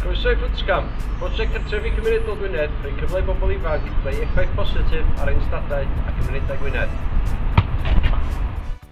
Croeso i Footscam, prosiect cartrefi cymunedol Gwynedd, rhoi cyfle i bobl ifanc greu effaith positif ar ein stadau a cymunedau Gwynedd.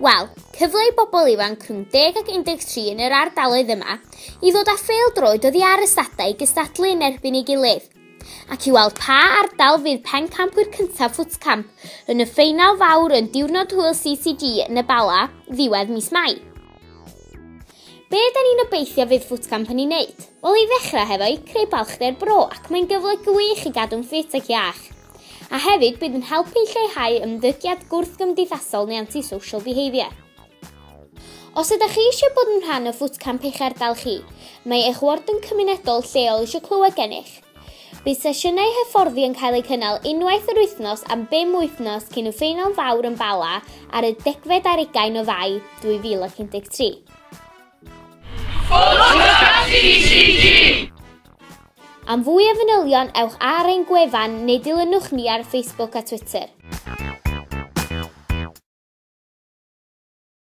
Wel, cyfle i bobl ifanc rhwng 10 ac 13 yn yr ardaloedd yma i ddod â phêl-droed oddi ar ystadau i gystadlu yn erbyn ei gilydd, ac i weld pa ardal fydd pencampwyr cyntaf Ffwtcamp yn y ffeinal fawr yn Diwrnod Hwyl CCG yn y Bala ddiwedd mis Mai. Be' da ni'n obeithio fydd Ffwtcamp yn ei wneud? Wel, i ddechrau hefo'i creu balchder bro ac mae'n gyfle gwych i gadw'n ffit ac iach. a hefyd bydd yn helpu i lleihau ymddygiad gwrthgymdeithasol neu anti-social behaviour. Os ydych chi eisiau bod yn rhan o Footcamp eich ardal chi, mae eich warden cymunedol lleol eisiau clywed gennych. Bydd sesiynau hyfforddi yn cael eu cynnal unwaith yr wythnos am bum wythnos cyn y ffeinal fawr yn Bala ar y degfed ar ugain o Fai 2013. Am fwy o fanylion ewch ar ein gwefan neu dilynwch ni ar Facebook a Twitter.